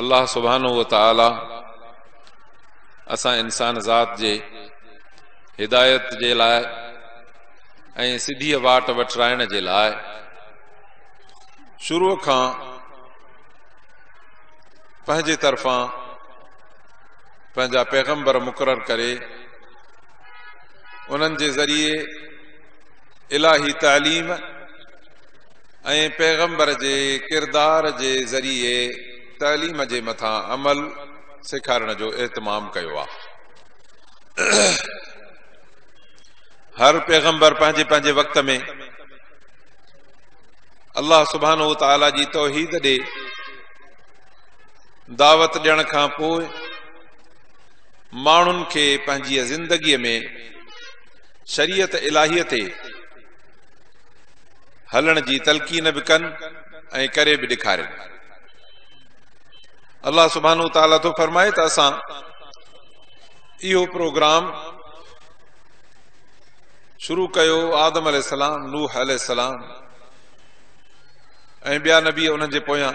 الله سبحانه وتعالي اسان انسان ذات جي هدايت جي لاء ۽ سڌيء واٽ وٺرائڻ جي لاء شروع کان پنهنجي طرفان پنهنجا پيغمبر مقرر ڪري انهن جي ذريعي الهي تعليم ۽ پيغمبر جي ڪردار جي ذريعي تعليم جي مٿان عمل سيکارڻ جو اهتمام ڪيو آهي. هر پيغمبر پنهنجي پنهنجي وقت ۾ الله سبحانه وتعالي جي توحيد ڏي دعوت ڏيڻ کان پوء ماڻهن کي پنهنجي زندگي ۾ شريعت الٰهيء تي هلڻ جي تلقين به ڪن ۽ ڪري به ڏيکارين الله سبحانه تعاليٰ ٿو فرمائي ته اسان اهو پروگرام شروع ڪيو آدم عليه السلام نوح عليه السلام ۽ ٻيا نبي انهن جي پويان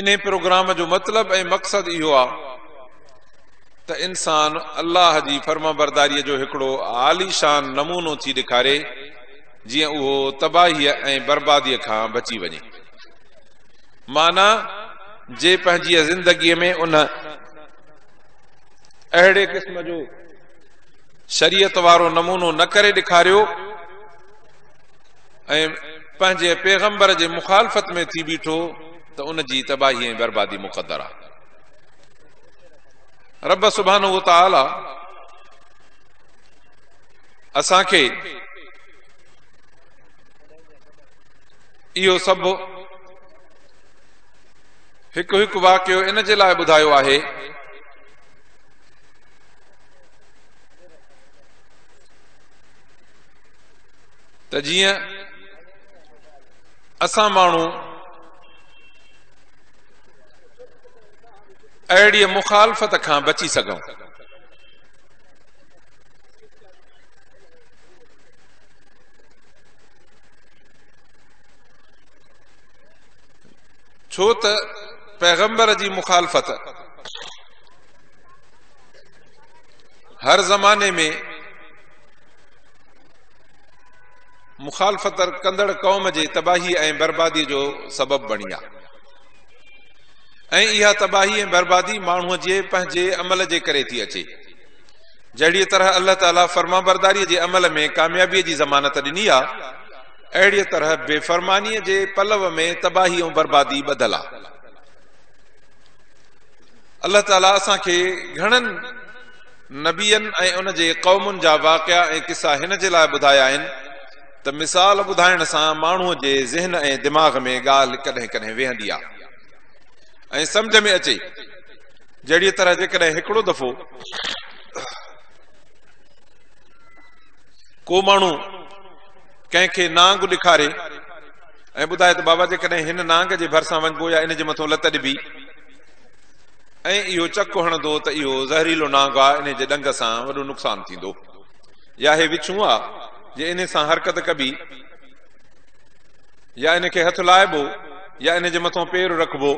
ان پروگرام جو مطلب ۽ مقصد اهو آهي ته انسان الله جي فرمانبرداريء جو هڪڙو عاليشان نمونو ٿي ڏيکاري، جيئن اهو تباهيء ۽ برباديء کان بچي وڃي. معنيٰ، جي پنهنجيء زندگيء ۾ ان اهڙي قسم جو شريعت وارو نمونو نه ڪري ڏيکاريو ۽ پنهنجي پيغمبر جي مخالفت ۾ ٿي بيٺو ته ان جي تباهي ۽ بربادي مقدر آهي. رب سبحانه وتعالي اسان کي اهو سڀ هڪ هڪ واقعو ان جي لاء ٻڌايو آهي ته جيئن اسان ماڻهو اهڙيء مخالفت کان بچي سگهون. ڇو ته پيغمبر جي مخالفت هر زماني ۾ مخالفت ڪندڙ قوم جي تباهي ۽ بربادي جو سبب بڻي آهي. ۽ اها تباهي ۽ بربادي ماڻهوء جي پنهنجي عمل جي ڪري ٿي اچي. جهڙيء طرح الله تعاليٰ فرمانبرداريء جي عمل ۾ ڪاميابيء جي ضمانت ڏني آ، اهڙيء طرح بي فرمانيء جي پلو ۾ تباهي ۽ بربادي ٻڌل آ. الله تعاليٰ اسان کي گهڻن نبين ۽ ان جي قومن جا واقعا ۽ قصا هن جي لاء ٻڌايا آهن، ته مثال ٻڌائڻ سان ماڻهوء جي ذهن ۽ دماغ ۾ ڳالهه ڪڏهن ڪڏهن ويهندي آ ۽ سمجهه ۾ اچي جهڙيء طرح جيڪڏهن هڪڙو دفعو ڪو ماڻهو ڪنهن کي نانگ ڏيکاري ۽ ٻڌائي ته بابا جيڪڏهن هن نانگ جي ڀرسان وڃبو يا ان جي مٿو لت ڏبي ۽ اهو چڪ هڻندو ته اهو زهريلو نانگ آ انهي جي ڏنگ سان وڏو نقصان ٿيندو يا هي وڇون آ جي انهي سان حرڪت ڪبي يا ان کي هٿ لائبو يا ان جي مٿان پير رکبو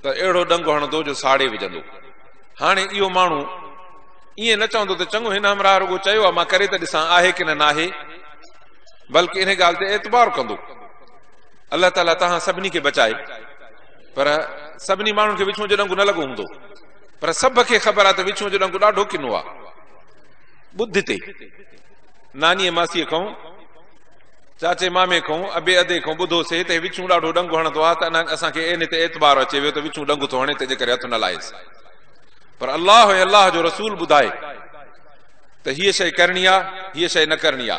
ته اهڙو ڏنگ هڻندو جو ساڙي وجهندو هاڻي اهو ماڻهو ائين نه چوندو ته چڱو هن همراهه رڳو چيو آ مان ڪري ته ڏسان آهي ڪن ناهي بلڪ ان ڳالهه تي اعتبار ڪندو الله تعاليٰ تهان سڀني کي بچائي پر سڀني ماڻهن کي وچون جو ڏنگ نه لڳو هوندو پر سڀ کي خبر آ ته وچون جو ڏنگ ڏاڍو ڪنو آ ٻڌ تي نانيء ماسيء کئون، چاچي مامي کئون، ابي ادي کئون ٻڌوسي ته هي وڇون ڏاڍو ڏنگ هڻندو آهي ته اسان کي اين تي اعتبار اچي ويو ته وڇون ڏنگ ٿو هڻي تنهنجي ڪري هٿ نه لاهيس. پر الله ۽ الله جو رسول ٻڌائي ته هيء شيء ڪرڻي آ، هيء شيء نه ڪرڻي آ.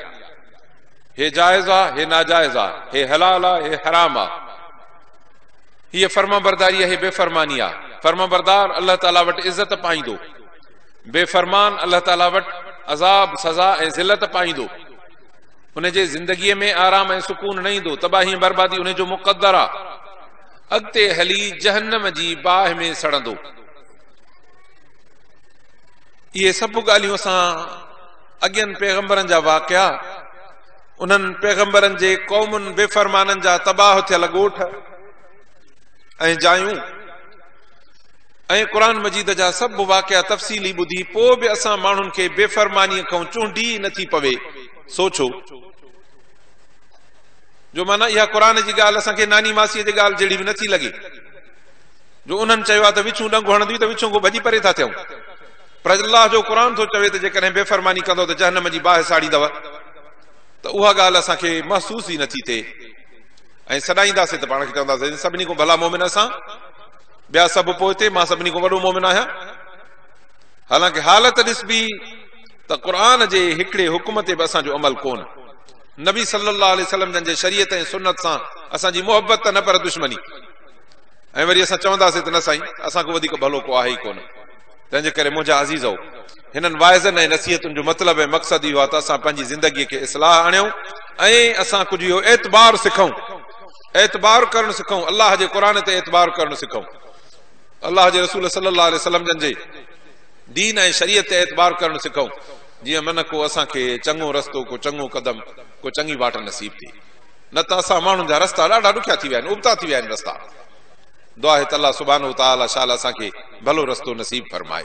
هي جائز آ، هي ناجائز آ، هي حلال آ، هي حرام آ. هيء فرمانبرداري آ، هي بيفرماني آ. فرمانبردار الله تعاليٰ وٽ عزت پائيندو. بي فرمان الله تعاليٰ وٽ عذاب، سزا ۽ ذلت پائيندو. ان جي زندگيء ۾ آرام ۽ سڪون نه ايندو. تباهي ۽ بربادي ان جو مقدر آ. اڳتي هلي جهنم جي باهه ۾ سڙندو. اهي سڀ ڳالهيون اسان اڳين پيغمبرن جا واقعا، انهن پيغمبرن جي قومن، بي فرمانن جا تباهه ٿيل ڳوٺ ۽ جايون، ۽ قرآن مجيد جا سڀ واقعا تفصيلي ٻڌي پوء به اسان ماڻهن کي بي فرمانيء کئون چونڊي ئي نٿي پوي سوچو جو معنيٰ اها قرآن جي ڳالهه اسان کي ناني ماسيء جي ڳالهه جهڙي به نٿي لڳي جو انهن چيو آهي ته وڇون ڏنگ هڻنديون ته وڇون کان ڀڄي پري ٿا ٿيون پر الله جو قرآن ٿو چوي ته جيڪڏهن بي فرماني ڪندو ته جهنم جي باهه ساڙيندو ته اها ڳالهه اسان کي محسوس ئي نٿي ٿئي ۽ سڏائينداسين ته پاڻ کي چونداسين سڀني کان ڀلا مومن اسان ٻيا سڀ پوئتي، مان سڀني کان وڏو مؤمن آهيان. حالانڪه حالت ڏسبي ته قرآن جي هڪڙي حڪم تي به اسان جو عمل ڪونه. نبي صلي الله عليه وسلم جن جي شريعت ۽ سنت سان اسان جي محبت ته نه پر دشمني ۽ وري اسان چونداسين ته نه سائين اسان کان وڌيڪ ڀلو ڪو آهي ئي ڪونه. تنهنجي ڪري منهنجا عزيزؤ! هنن واعظن ۽ نصيحتن جو مطلب ۽ مقصد اهو آهي ته اسان پنهنجي زندگيء کي اصلاح آڻيون ۽ اسان ڪجهه اهو اعتبار سکئون، اعتبار ڪرڻ سکون الله جي قرآن تي اعتبار ڪرڻ سکون الله جي رسول صلي الله عليه وسلم جن جي دين ۽ شريعت تي اعتبار ڪرڻ سکون جي من ڪو اسان کي چڱو رستو ڪو چڱو قدم ڪو چڱي واٽ نصيب ٿي نه ته اسان ماڻهن جا رستا ڏاڍا ڏکيا ٿي ويا آهن ابتا ٿي ويا آهن رستا دعا هت الله سبحانه تعالى شال اسان کي ڀلو رستو نصيب فرمائي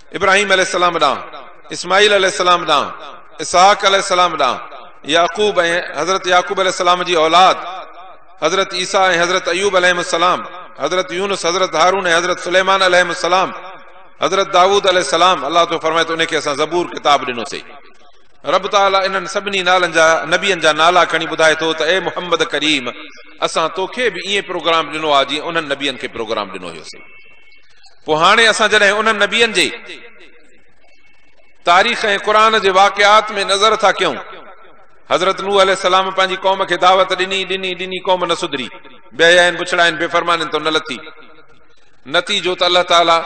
ابراهيم عليه السلام ڏانهن، اسماعيل عليه السلام ڏانهن، اسحاق عليه السلام ڏانهن، يعقوب ۽ حضرت يعقوب عليه السلام جي اولاد، حضرت عيسيٰ ۽ حضرت ايوب عليهم السلام، حضرت يونس، حضرت هارون ۽ حضرت سليمان عليهم السلام، حضرت دائود عليه السلام، الله تو فرمائي ته انهي کي اسان زبور، ڪتاب، ڏنوسي. رب تعاليٰ انهن سڀني نالن جا، نبين جا، نالا کڻي ٻڌائي ٿو ته اي محمد ڪريم! اسان توکي به ائين پروگرام ڏنو آهي جيئن انهن نبين کي پروگرام ڏنو هيوسين. پوء هاڻي اسان جڏهن انهن نبين جي تاريخ ۽ قرآن جي واقعات ۾ نظر ٿا ڪيون، حضرت نوح عليه السلام پنهنجي قوم کي دعوت ڏني، ڏني، ڏني قوم نه سڌري، بي حيائين، بڇڙائين، بي فرمانين تون نه لٿي. نتيجو ته الله تعاليٰ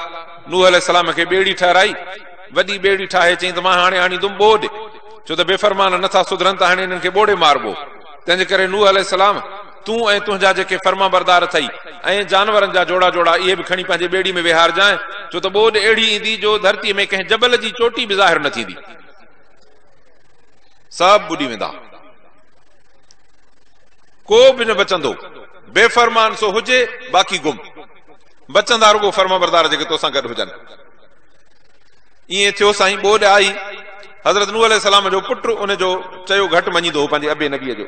نوح عليه السلام کي ٻيڙي ٺهرائي، وڏي ٻيڙي ٺاهي چيائين ته مان هاڻي آڻيندم ٻوڏ، ڇو ته بي فرمان نه ٿا سڌرن ته هاڻي انهن کي ٻوڙي ماربو. تنهنجي ڪري نوح عليه السلام، تون ۽ تنهنجا جيڪي فرمانبردار اٿئي ۽ جانورن جا جوڙا جوڙا اهي به کڻي پنهنجي ٻيڙي ۾ ويهارجانء، ڇو ته ٻوڏ اهڙي ايندي جو ڌرتيء ۾ ڪنهن جبل جي چوٽي به ظاهر نه ٿيندي. سڀ ٻڏي ويندا. ڪو به نه بچندو. بي فرمان سو هجي، باقي گم. بچندا رڳو فرمانبردار جيڪي توسان گڏ هجن. ائين ٿيو سائين ٻوڏ آئي. حضرت نوح عليه السلام جو پٽ ان جو چيو گهٽ مڃيندو هو پنهنجي ابي نبيء جو.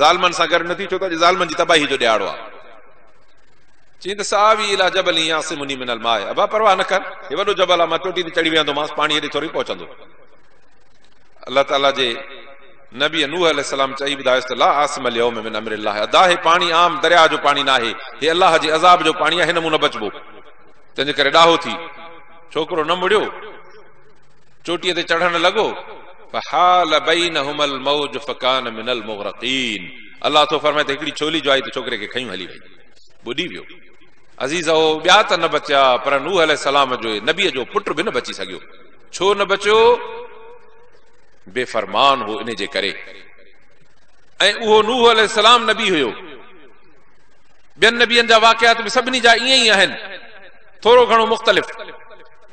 ظالمن سان گڏ نه ٿي ڇو ته اڄ ظالمن جي تباهي جو ڏهاڙو آهي. چيائين ته سآوي اليٰ جبل يعصمني من الماء ابا پرواهه نه ڪر هي وڏو جبل آهي مان چوٽي تي چڙهي ويهندومانس پاڻي هيڏي ٿوري پهچندو. الله تعاليٰ جي نبي نوح عليه السلام چئي ٻڌايس ته لا عاصم اليوم من امر الله ادا هي پاڻي عام درياهه جو پاڻي ناهي هي الله جي عذاب جو پاڻي آهي هن مون نه بچبو تنهنجي ڪري ڏاهو ٿي. ڇوڪرو نه مڙيو. چوٽيء تي چڙهڻ لڳو، فحال بينهما الموج فڪان من المغرقين، الله ٿو فرمائي ته هڪڙي ڇولي جو آهي ته ڇوڪري کي کنيون هلي وئي، ٻڏي ويو. عزيزؤ! ٻيا ته نه بچيا، پر نوح عليه السلام جوئي، نبيء جو پٽ، به نه بچي سگهيو. ڇو نه بچيو؟ بي فرمان هو ان جي ڪري. ۽ اهو نوح عليه السلام نبي هيو. ٻين نبين جا واقعات به سڀني جا ائين ئي آهن، ٿورو گهڻو مختلف.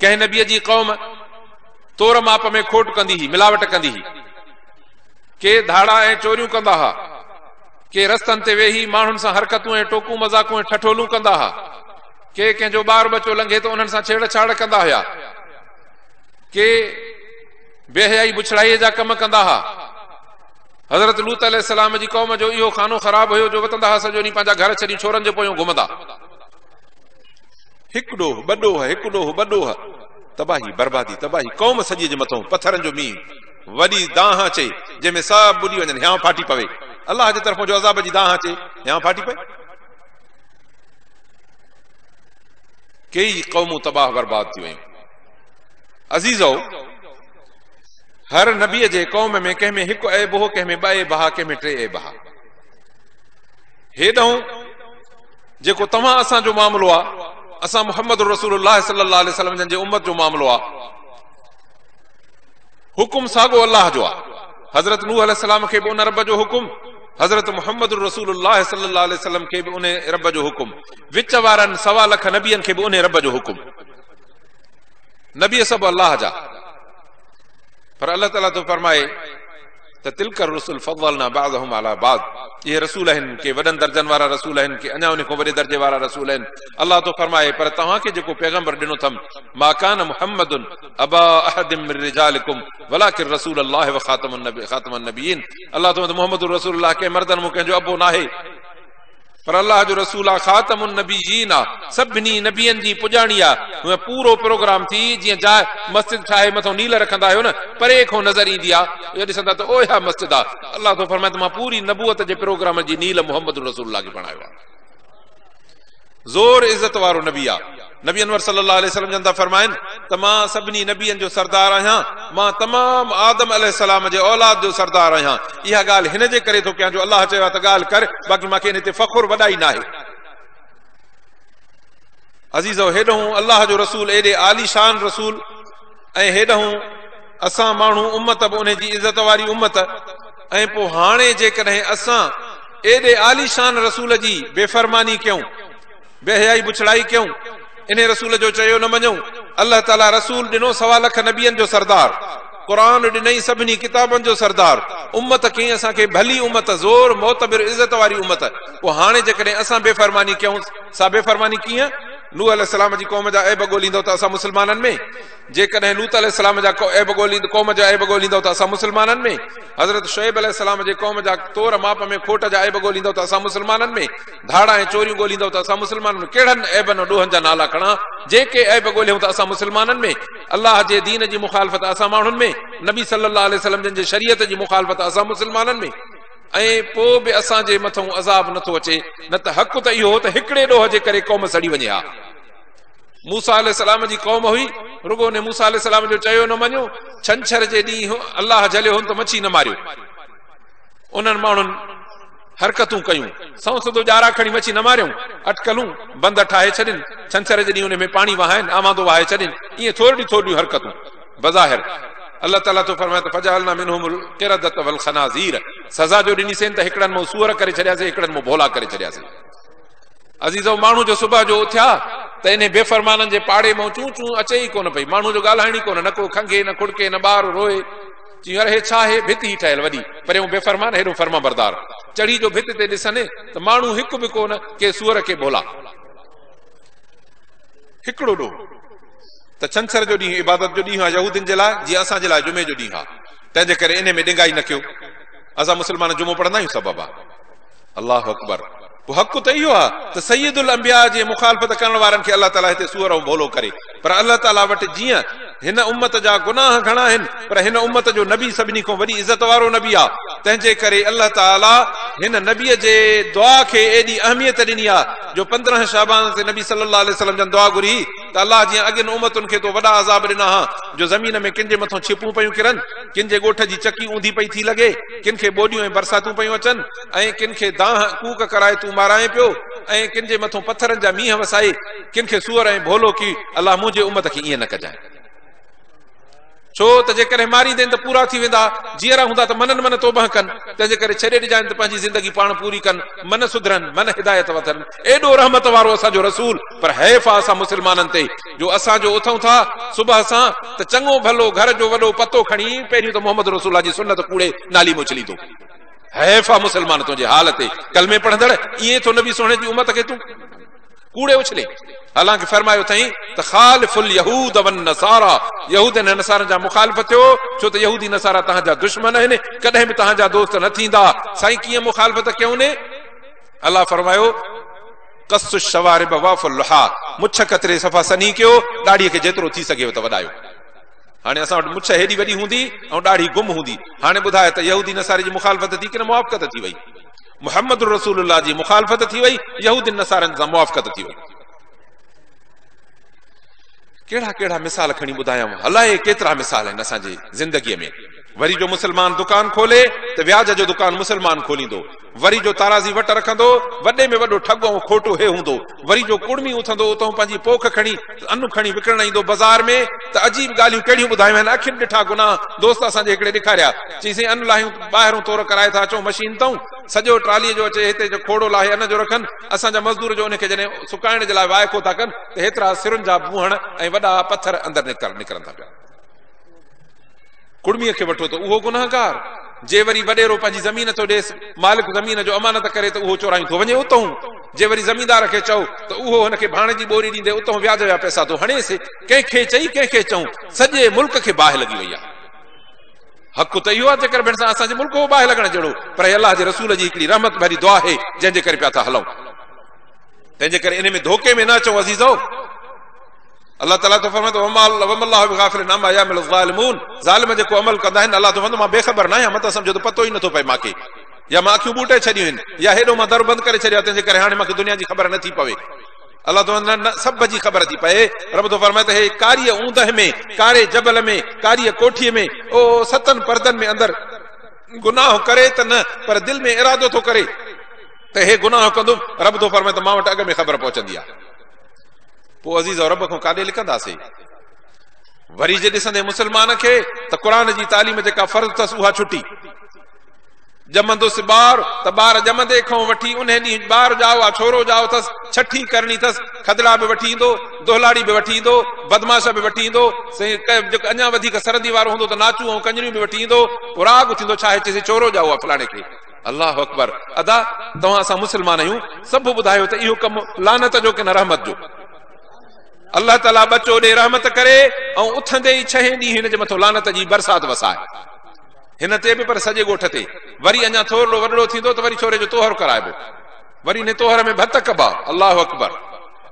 ڪنهن نبيء جي قوم تور ماپ ۾ کوٽ ڪندي هئي، ملاوٽ ڪندي هئي. ڪي ڌاڙا ۽ چوريون ڪندا ها، ڪي رستن تي ويهي ماڻهن سان حرڪتون ۽ ٽوڪون مذاقون ۽ ٺٺولون ڪندا ها، ڪي ڪنهن جو ٻار ٻچو لنگهي ته انهن سان ڇيڙ ڇاڙ ڪندا هيا، ڪي بي حيائي بڇڙائيء جا ڪم ڪندا ها. حضرت لوط عليه السلام جي قوم جو اهو خانو خراب هيو جو وتندا ها سڄو ڏينهن پنهنجا گهر ڇڏي ڇورن جي پويون گهمندا. هڪ ڏوهه ٻه ڏوهه هڪ ڏوهه ٻه ڏوهه تباهي بربادي تباهي قوم سڄي جي مٿون پٿرن جو مينهن وڏي دانهن اچي جنهن ۾ سڀ ٻڏي وڃن هيانء ڦاٽي پوي الله جي طرفون جو عذاب جي دانهن اچي هيانء ڦاٽي پوي ڪيئي قومون تباهه برباد ٿي ويون عزيزو هر نبي جي قوم ۾ ڪنهن ۾ هڪ عيب هو ڪنهن ۾ ٻه عيب ها ڪنهن ۾ ٽي عيب ها هيڏهون جيڪو توهان اسان جو معاملو آ، اسان محمد رسول الله صلي الله عليه وسلم جن جي امت جو معاملو آ. حڪم ساڳو الله جو آ. حضرت نوح عليه السلام کي به ان رب جو حڪم، حضرت محمد رسول الله صلي الله عليه وسلم کي به ان رب جو حڪم، وچ وارن سوا لک نبين کي به ان رب جو حڪم. نبي سڀ الله جا پر الله تعالي ٿو فرمائي ته تلک الرسل فضلنا بعضهم علي بعض اهي رسول آهن ڪي وڏن درجن وارا رسول آهن ڪي اڃا انهي کان وڏي درجي وارا رسول آهن الله ٿو فرمائي پر توهان کي جيڪو پيغمبر ڏنو اٿم ما ڪان محمد ابا احد من رجالڪم ولڪن رسول الله وخاتم النبي خاتم النبيين الله ٿو محمد رسول الله ڪنهن مردن مون ڪنهن جو ابو ناهي پر الله جو رسول آ، خاتم النبيين آ، سڀني نبين جي پڄاڻي آ، هونئن پورو پروگرام ٿي جيئن جاء مسجد ٺاهي مٿو نيل رکندا آهيو نه، پري کون نظر ايندي آ، اها ڏسندا ته اهيا مسجد آ، الله ٿو فرمائي ته مان پوري نبوت جي پروگرام جي نيل محمد رسول الله کي بڻايو آ. زور عزت وارو نبي آ. نبي انور صلي الله عليه وسلم جن ٿا فرمائن ته مان سڀني نبين جو سردار آهيان، مان تمام آدم عليه السلام جي اولاد جو سردار آهيان، اها ڳالهه هن جي ڪري ٿو ڪيان جو الله چيو آهي ته ڳالهه ڪر، باقي مان کي ان تي فخر وڏائي ناهي. عزيزؤ! هيڏهون الله جو رسول ايڏي عالي شان رسول ۽ هيڏهون اسان ماڻهو امت به ان جي عزت واري امت ۽ پوء هاڻي جيڪڏهن اسان ايڏي عالي شان رسول جي بي فرماني ڪيون بي حيائي بڇڙائي ڪيون انهي رسول جو چيو نه مڃون الله تعالي رسول ڏنو سوا لک نبين جو سردار قرآن ڏنئي سڀني ڪتابن جو سردار امت ڪئين اسان کي ڀلي امت زور معتبر عزت واري امت پوء هاڻي جيڪڏهن اسان بي فرماني ڪيون سا بي فرماني ڪيئن نوح عليه السلام جي قوم جا عيب ڳوليندو ته اسان مسلمانن ۾ جيڪڏهن لوط عليه السلام جا عيب ڳوليندو قوم جا عيب ڳوليندو ته اسان مسلمانن ۾ حضرت شعيب عليه السلام جي قوم جا طور ماپ ۾ کوٽ جا عيب ڳوليندو ته اسان مسلمانن ۾ ڌاڙا ۽ چوريون ڳوليندؤ ته اسان مسلمانن ۾ ڪهڙن عيبن ۽ ڏوهن جا نالا کڻا؟ جي ڪي عيب ڳوليون ته اسان مسلمانن ۾ الله جي دين جي مخالفت اسان ماڻهن ۾ نبي صلي الله عليه وسلم جن جي شريعت جي مخالفت اسان مسلمانن ۾ ۽ پوء به اسان جي مٿئون عذاب نه ٿو اچي نه ته حق ته اهو هو ته هڪڙي ڏوهه جي ڪري قوم سڙي وڃي ها موسا عليه السلام جي قوم هئي رڳو ان موسا عليه السلام جو چيو نه مڃيو ڇنڇر جي ڏينهن الله جهليو هن ته مڇي نه ماريو انهن ماڻهن حرڪتون ڪيون، سنئون سڌو ڄارا کڻي مڇي نه ماريون، اٽڪلون، بند ٺاهي ڇڏين، ڇنڇر جي ڏينهن انهي ۾ پاڻي وهائين، آمادو وهائي ڇڏين، ائين ٿورڙيون ٿورڙيون حرڪتون. بظاهر، الله تعاليٰ ٿو فرمائي ته فجعلنا منهم القردة والخنازير، سزا جو ڏنيسين ته هڪڙن مئو سوئر ڪري ڇڏياسين، هڪڙن مئو ڀولا ڪري ڇڏياسين. عزيزؤ! ماڻهو جو صبح جو اٿيا ته انهي بيفرمانن جي پاڙي مئو چون چون اچي ئي ڪونه پئي، ماڻهو جو ڳالهائڻ ئي ڪونه، نه ڪو کنگهي، نه کڙڪي، نه ٻار روئي، چيو، اڙي هي ڇا هي ڀت هي ٺهيل وڏي پريون بي فرمان هيڏو فرمانبردار چڙهي جو ڀت تي ڏسن ته ماڻهو هڪ به ڪو نه ڪي سوئر ڪي ڀولا هڪڙو ڏو ته ڇنڇر جو ڏينهن عبادت جو ڏينهن آ يهودين جي لاء جيئن اسان جي لاء جمعي جو ڏينهن آ تنهن جي ڪري انهي ۾ ڏنگائي نه ڪيو اسان مسلمان جمعو پڙهندا آهيون سبب آ. الله اڪبر پوء حق ته اهو آهي ته سيد الانبياء جي مخالفت ڪرڻ وارن کي الله تعالي هتي سوئر ۽ ڀولو ڪري پر الله تعالي وٽ جيئن هن امت جا گناهه گهڻا آهن پر هن امت جو نبي سڀني کان وڏي عزت وارو نبي آهي تنهن جي ڪري الله تعالي هن نبي جي دعا کي ايڏي اهميت ڏني آهي جو پندرهن شعبان تي نبي صلي الله عليه وسلم جن دعا گهري هئي ته الله جيان اڳين امتن کي تو وڏا عذاب ڏنا ها جو زمين ۾ ڪن جي مٿان ڇپون پيون ڪرن، ڪن جي ڳوٺ جي چڪي اونڌي پئي ٿي لڳي، ڪن کي ٻوڏيون ۽ برساتون پيون اچن ۽ ڪن کي دانهن ڪوڪ ڪرائي تون مارائين پيو ۽ ڪن جي مٿان پٿرن جا مينهن وسائي ڪن کي سوئر ۽ ڀولو ڪي الله منهنجي امت کي ائين نه ڪجانء. ڇو ته جيڪڏهن ماريندين ته پورا ٿي ويندا، جيئرا هوندا ته منن من توبهه ڪن، تنهن جي ڪري ڇڏي ڏجانء ته پنهنجي زندگي پاڻ پوري ڪن، من سڌرن، من هدايت وٺن. ايڏو رحمت وارو اسان جو رسول، پر حيف آ اسان مسلمانن تي، جو اسان جو اٿئون ٿا صبح سان ته چڱو ڀلو گهر جو وڏو پتو کڻي پهريون ته محمد رسول الله جي سنت ڪوڙي نالي ۾ اڇليندو. حيف آ مسلمان تنهنجي حال تي، ڪلمي پڙهندڙ، ائين ٿو نبي سهڻي جي امت کي تون. ڪوڙي اڇلي، حالانڪ فرمايو اٿئين ته خالف اليهود والنصارا، يهودين ۽ نصارن جا مخالف ٿيو، ڇو ته يهودي نصارا تهان جا دشمن آهن، ڪڏهن به تهان جا دوست نه ٿيندا، سائين ڪيئن مخالفت ڪيون؟ الله فرمايو، قصوا الشوارب واعفوا اللحا، مڇ ڪتري صفا سنهي ڪيو، ڏاڙهي کي جيترو ٿي سگهيو ته وڏايو. هاڻي اسان وٽ مڇ هيڏي وڏي هوندي ۽ ڏاڙهي گم هوندي، هاڻي ٻڌاء ته يهودي نصاري جي مخالفت ٿي ڪنه موافقت ٿي وئي؟ محمد رسول الله جي مخالفت ٿي وئي، يهودين نصارين سان موافقت ٿي وئي. ڪهڙا ڪهڙا مثال کڻي ٻڌايانو، الائي ڪيترا مثال آهن اسان جي زندگيء ۾. وري جو مسلمان دڪان کولي ته وياج جو دڪان مسلمان کوليندو، وري جو تارازي وٽ رکندو، وڏي ۾ وڏو ٺڳ ۽ کوٽو هي هوندو، وري جو ڪڙمي اٿندو اتهون پنهنجي پوک کڻي ته انو کڻي وڪڻڻ ايندو بزار ۾ ته عجيب ڳالهيون ڪهڙيون ٻڌايون آهن اکين ڏٺا گناهه دوست اسان جي هڪڙي ڏيکاريا چئي سائين انو لاهيون ٻاهرون تور ڪرائي ٿا اچون مشين تئون سڄو ٽرالي جو اچي هتي جو کوڙو لاهي ان جو رکن اسان جا مزدور جو ان کي جڏهن سڪائڻ جي لاء وائکو ٿا ڪن ته هيترا سرن جا بونهڻ ۽ وڏا پٿر اندر نڪرن ٿا پيا ڪڙميء کي وٺو ته اهو گنهگار، جي وري وڏيرو پنهنجي زمين ٿو ڏيس، مالڪ زمين جو امانت ڪري ته اهو چورائي ٿو وڃي اتهون، جي وري زميندار کي چئو ته اهو هن کي ڀاڻ جي ٻوري ڏيندي اتهون وياج جا پئسا ٿو هڻيس، ڪنهن کي چئي ڪنهن کي چئون، سڄي ملڪ کي باهه لڳي وئي آهي. حق ته اهو آهي جيڪر ڀيڻ سان اسان جي ملڪ هو باهه لڳڻ جهڙو، پر هي الله جي رسول جي هڪڙي رحمت ڀري دعا آهي جنهن جي ڪري پيا ٿا هلئون. تنهنجي ڪري انهي ۾ ڌوڪي ۾ نه اچئون عزيزؤ! الله تعالٰي ٿو فرمائي ته وما الله بغافل عما يعمل الظالمون ظالم جيڪو عمل ڪندا آهن الله ٿو فرمائي مان بي خبر ناهيان مت سمجهو ته پتو ئي نٿو پئي مانکي يا مان اکيون ٻوٽي ڇڏيون آهن يا هيڏو مان در بند ڪري ڇڏيو آهي تنهن جي ڪري هاڻي مانکي دنيا جي خبر نٿي پوي الله ٿو نه نه سڀ جي خبر ٿي پئي رب ٿو فرمائي ته هي ڪاري اوندهه ۾ ڪاري جبل ۾ ڪاري ڪوٺي ۾ او ستن پردن ۾ اندر گناهه ڪري ته نه پر دل ۾ ارادو ٿو ڪري ته هي گناهه ڪندو رب ٿو فرمائي ته مان وٽ اڳ ۾ خبر پهچندي آهي پوء عزيز او رب کان ڪاڏي لڪنداسين؟ وري جي ڏسندين مسلمان کي ته قرآن جي تعليم جيڪا فرض اٿس اها ڇٽي. ڄمندس ٻار ته ٻار ڄمندي کان وٺي انهي ڏينهن ٻار ڄائو آ ڇورو ڄائو اٿس ڇٺي ڪرڻي اٿس کدڙا به وٺي ايندو دهلاڙي به وٺي ايندو بدماش به وٺي ايندو جيڪو اڃا وڌيڪ سرندي وارو هوندو ته ناچون ۽ ڪنجريون به وٺي ايندو پوء راڳ اٿيندو ڇا هي چئسي ڇورو ڄائو آ فلاڻي کي الله اڪبر ادا توهان اسان مسلمان آهيون سڀ ٻڌايو ته اهو ڪم لعنت جو ڪن رحمت جو الله تعالي بچو ڏي رحمت ڪري ۽ اٿندي ئي ڇهين ڏينهن هن جي مٿو لعنت جي برسات وسائي هن تي به پر سڄي ڳوٺ تي وري اڃا ٿورڙو وڏڙو ٿيندو ته وري ڇوري جو توهر ڪرائبو وري هن توهر ۾ ڀت ڪبا الله اڪبر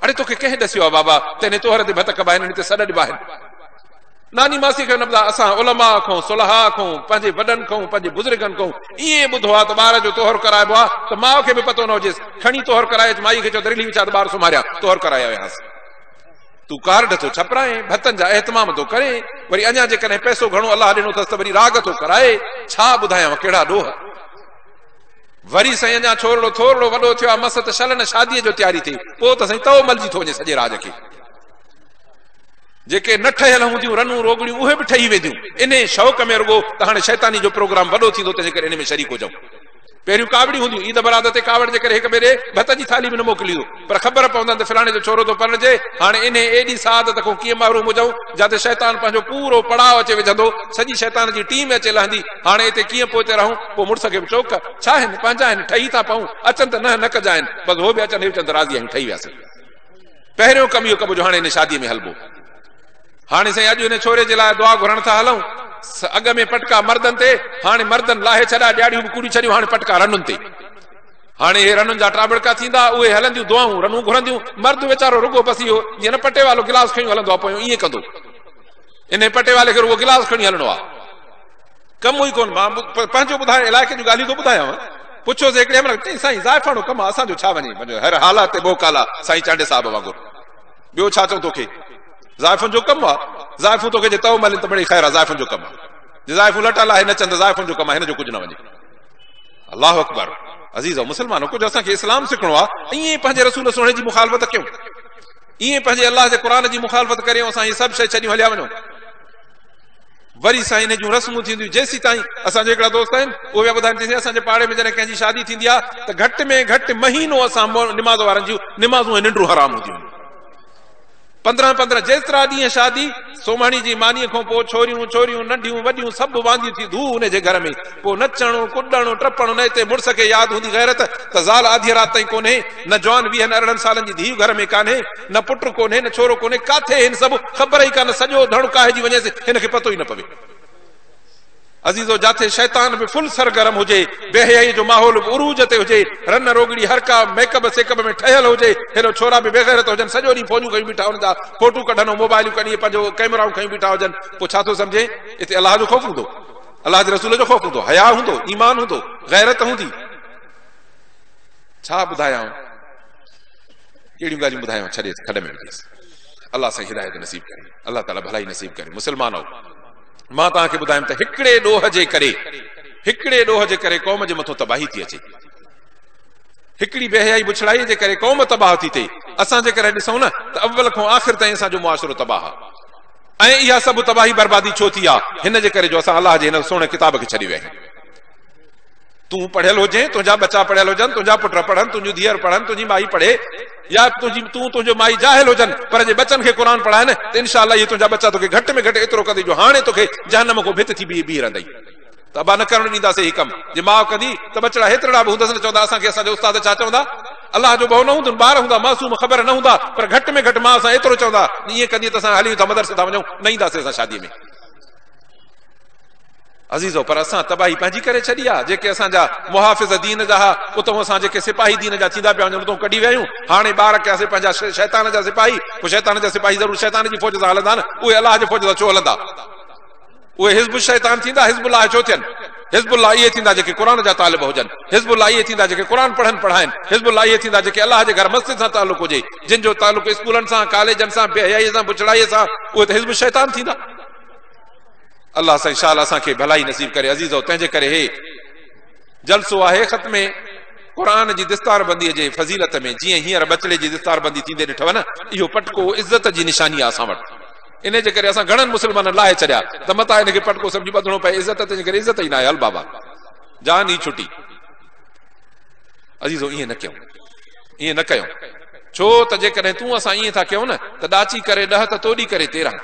اڙي توکي ڪنهن ڏسيو آهي بابا ته هن توهر تي ڀت ڪبا هن تي سڏ ڏبا آهن ناني ماسي کي نه ٻڌاء، اسان علماء کون، صلحاء کون، پنهنجي وڏن کون، پنهنجي بزرگن کون ائين ئي ٻڌو آهي ته ٻار جو طهر ڪرائبو آهي ته ماء کي به پتو نه هجيس، کڻي طهر ڪرائي اچ، مائي کي چئو ته رلي وڇاء ته ٻار سمهاريان طهر ڪرائي آيا هئاسين. تون ڪارڊ ٿو ڇپرائين، ڀتن جا اهتمام ٿو ڪرين، وري اڃا جيڪڏهن پئسو گهڻو الله ڏنو اٿس ته وري راڳ ٿو ڪرائي، ڇا ٻڌايانء ڪهڙا ڏوهه. وري سائين اڃا ڇورڙو ٿورڙو وڏو ٿيو آهي، مس ته شل نه شاديء جو تياري ٿئي، پوء ته سائين تئو ملجي ٿو وڃي سڄي راڄ کي. جيڪي نه ٺهيل هونديون رنون روڳڙيون اهي به ٺهي وينديون. انهيء شوق ۾ رڳو ته هاڻي شيطاني جو پروگرام وڏو ٿيندو تنهنجي ڪري انهي ۾ شريڪ هجئون. پهريون ڪاوڙيون هونديون، عيد براد تي ڪاوڙ جي ڪري هڪ ٻئي ڏي ڀت جي ٿالهي به نه موڪليندو پر خبر پوندن ته فلاڻي جو ڇورو ٿو پرڻجي، هاڻي انهي ايڏي سعادت کون ڪيئن محروم هجئون جا تي شيطان پنهنجو پورو پڙاء اچي وجهندو، سڄي شيطان جي ٽيم اچي لهندي، هاڻي اتي ڪيئن پوئتي رهون، پوء مڙس کي به چئو ڪه ڇا آهن پنهنجا آهن ٺهي ٿا پئون، اچن ته ننهن نه ڪجانئن، بس هو به اچن هي اچن ته راضي آهيون ٺهي وياسين. پهريون ڪم اهو ڪبو جو هاڻي هن شاديء ۾ هلبو. هاڻي سائين اڄ هن ڇوري جي لاء دعا گهرڻ ٿا هلون. سا اڳ ۾ پٽڪا مردن تي، هاڻي مردن لاهي ڇڏا، ڏياڙهيون به ڪوڙي ڇڏيون، هاڻي پٽڪا رنن تي. هاڻي اهي رنن جا ٽاٻڙڪا ٿيندا، اهي هلنديون دعائون، رنون گهرنديون. مرد ويچارو رڳو بس اهو، جيئن نه پٽيوالو گلاس کنيون هلندو آ پويون، ائين ڪندو. انهيء پٽيوالي کي رڳو گلاس کڻي هلڻو آ. ڪم ئي ڪون مان پنهنجو ٻڌايو علائقي جون ڳالهيون ٿو ٻڌايانو پڇيوس هڪڙي امڙ چئين سائين زائفاڻو ڪم اسان جو ڇا وڃي پنهنجو هر حالا تي ٻوڪ آلا سائين چانڊي صاحب وانگر ٻيو ڇا چئون توکي زائفن جو ڪم آ زائفون توکي جي تو ملين ته مڙي خير آ زائفن جو ڪم آ جي زائفون لٽا لاهي نه چند زائفن جو ڪم آ هن جو ڪجهه نه وڃي الله اڪبر عزيز او مسلمانو ڪجهه اسان کي اسلام سکڻو آ ائين پنهنجي رسول سهڻي جي مخالفت ڪيون ائين پنهنجي الله جي قرآن جي مخالفت ڪريون اسان هي سڀ شي ڇڏيون هليا وڃو وري سائين انهي جون رسمون ٿينديون جيسيتائين اسان جا هڪڙا دوست آهن اهي پيا ٻڌائن چي سائين اسان جي پاڙي ۾ جڏهن ڪنهن جي شادي ٿيندي آ ته گهٽ ۾ گهٽ مهينو اسان نماز وارن جون نمازون ۽ ننڊون حرام هونديون آهن پندرهن پندرهن جيسترا ڏينهن شادي سومهڻي جي ماني کون پوء ڇوريون ڇوريون ننڍيون وڏيون سڀ وانديون ٿي ڌو انهي جي گهر ۾ پوء نچڻ ڪڏڻ ٽپڻ نه اتي مڙس کي ياد هوندي غيرت ته زال آڌيء رات تائين ڪونهي نه جوان ويهن ارڙهن سالن جي ڌيء گهر ۾ ڪانهي نه پٽ ڪونهي نه ڇورو ڪونهي ڪاٿي هن سڀ خبر ئي ڪانه سڄو ڌڻ ڪاهجي وڃيس هن کي پتو ئي نه پوي عزيزو جاٿي شيطان به فل سرگرم هجي بي حيائي جو ماحول به عروج تي هجي رن روڳڙي هر ڪا ميڪب سيڪب ۾ ٺهيل هجي هيڏو ڇورا به بيغيرت هجن سڄو ڏينهن فونيون کنيون بيٺا هن جا فوٽو ڪڍن ۽ موبائليون ڪڍي پنهنجو ڪئميرائون کنيون بيٺا هجن پوء ڇا ٿو سمجهين اتي الله جو خوف هوندو الله جي رسول جو خوف هوندو حياء هوندو ايمان هوندو غيرت هوندي ڇا ٻڌايائون ڪهڙيون ڳالهيون ٻڌايانو ڇڏيس کڏ ۾ وجهيس الله سائين هدايت نصيب ڪري الله تعالي ڀلائي نصيب ڪري مسلمانو مان توهان کي ٻڌايم ته هڪڙي ڏوهه جي ڪري هڪڙي ڏوهه جي ڪري قوم جي مٿو تباهي ٿي اچي هڪڙي بيحيائي بڇڙائي جي ڪري قوم تباهه ٿي ٿئي اسان جي ڪري ڏسون نه ته اول کان آخر تائين اسان جو معاشرو تباهه آهي ۽ اها سڀ تباهي بربادي ڇو ٿي آهي هن جي ڪري جو اسان الله جي هن سهڻي ڪتاب کي ڇڏي ويا آهيون تون پڙهيل هجين، تنهنجا ٻچا پڙهيل هجن، تنهنجا پٽ پڙهن، تنهنجون ڌيئر پڙهن، تنهنجي مائي پڙهي يا تون تنهنجو مائي جاهل هجن پر جي ٻچن کي قرآن پڙهائي نه ته انشاء الله اهي تنهنجا ٻچا توکي گهٽ ۾ گهٽ ايترو ڪندي جو هاڻي توکي جهنم کان ڀت ٿي بيهي بيهي رهندئي ته ابا نه ڪرڻ ڏينداسين هي ڪم جي ماء ڪندي ته ٻچڙا هيترڙا به هوندس نه چوندا اسان کي اسان جا استاد ڇا چوندا الله جو ڀؤ نه هوندن ٻار هوندا معصوم خبر نه هوندا پر گهٽ ۾ گهٽ ماء سان ايترو چوندا ائين ڪندي ته اسان هليون ٿا مدرسي ٿا وڃون نه اينداسين اسان شادي ۾ عزيزو! پر اسان تباهي پنهنجي ڪري ڇڏي آ، جيڪي اسان جا محافظ دين جا ها، اتهون اسان جيڪي سپاهي دين جا ٿيندا پيا وڃن، اتهون ڪڍي ويا آهيون، هاڻي ٻار ڪياسين پنهنجا شيطان جا سپاهي، پوء شيطان جا سپاهي ضرور شيطان جي فوج سان هلندا نه، اهي الله جي فوج سان ڇو هلندا؟ اهي حزب الشيطان ٿيندا، حزب الله ڇو ٿين؟ حزب الله اهي ٿيندا جيڪي قرآن جا طالب هجن، حزب الله اهي ٿيندا جيڪي قرآن پڙهن پڙهائين، حزب الله اهي ٿيندا جيڪي الله جي گهر مسجد سان تعلق هجي، جن جو تعلق اسڪولن سان، ڪاليجن سان، بي حيائيء سان، بڇڙائيء سان، اهي ته حزب الشيطان ٿيندا. الله سائين شال اسان کي ڀلائي نصيب ڪري عزيزو تنهنجي ڪري هي جلسو آهي ختم قرآن جي دستاربندي جي فضيلت ۾ جيئن هينئر ٻچڙي جي دستاربندي ٿيندي ڏٺو نه اهو پٽڪو عزت جي نشاني آهي اسان وٽ ان جي ڪري اسان گهڻن مسلمانن لاهي ڇڏيا ته متان ان کي پٽڪو سمجهي ٻڌڻو پئي عزت تنهنجي ڪري عزت ئي نه آهي هل بابا جان ئي ڇٽي عزيزو ائين نه ڪيون ائين نه ڪيون ڇو ته جيڪڏهن تون اسان ائين ٿا ڪيون نه ته ڏاچي ڪري ڏهه ته توڏي ڪري تيرهن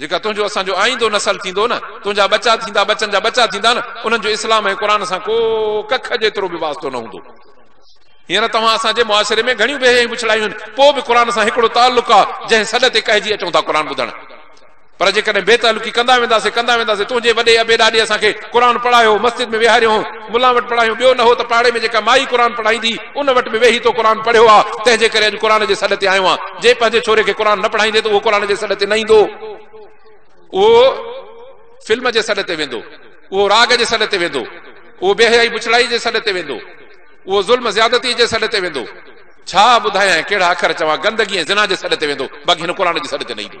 جيڪا تنهنجو اسان جو آئيندو نسل ٿيندو نه تنهنجا ٻچا ٿيندا ٻچن جا ٻچا ٿيندا نه انهن جو اسلام ۽ قرآن سان ڪو ڪک جيترو به واسطو نه هوندو هينئر توهان اسان جي معاشري ۾ گهڻيون بيهيائيون بڇڙايون آهن پوء به قرآن سان هڪڙو تعلق آ جنهن سڏ تي ڪهجي اچون ٿا قرآن ٻڌڻ پر جيڪڏهن بي تعلقي ڪندا وينداسي ڪندا وينداسي تنهنجي وڏي ابي ڏاڏي اسان کي قرآن پڙهايو مسجد ۾ ويهاريو هو ملان وٽ پڙهايون ٻيو نه هو ته پاڙي ۾ جيڪا مائي قرآن پڙهائيندي ان وٽ به ويهي تو قرآن پڙهيو آ تنهن جي ڪري اڄ قرآن جي سڏ تي آيو آن جي پنهنجي ڇوري کي قرآن نه پڙهائيندي ته اهو قرآن جي سڏ تي نه ايندو اهو فلم جي سڏ تي ويندو اهو راڳ جي سڏ تي ويندو اهو بي حيائي بڇڙائي جي سڏ تي ويندو اهو ظلم زيادتي جي سڏ تي ويندو ڇا ٻڌايان ڪهڙا اکر چوان گندگي ۽ زنا جي سڏ تي ويندو باقي هن قرآن جي سڏ تي نه ايندو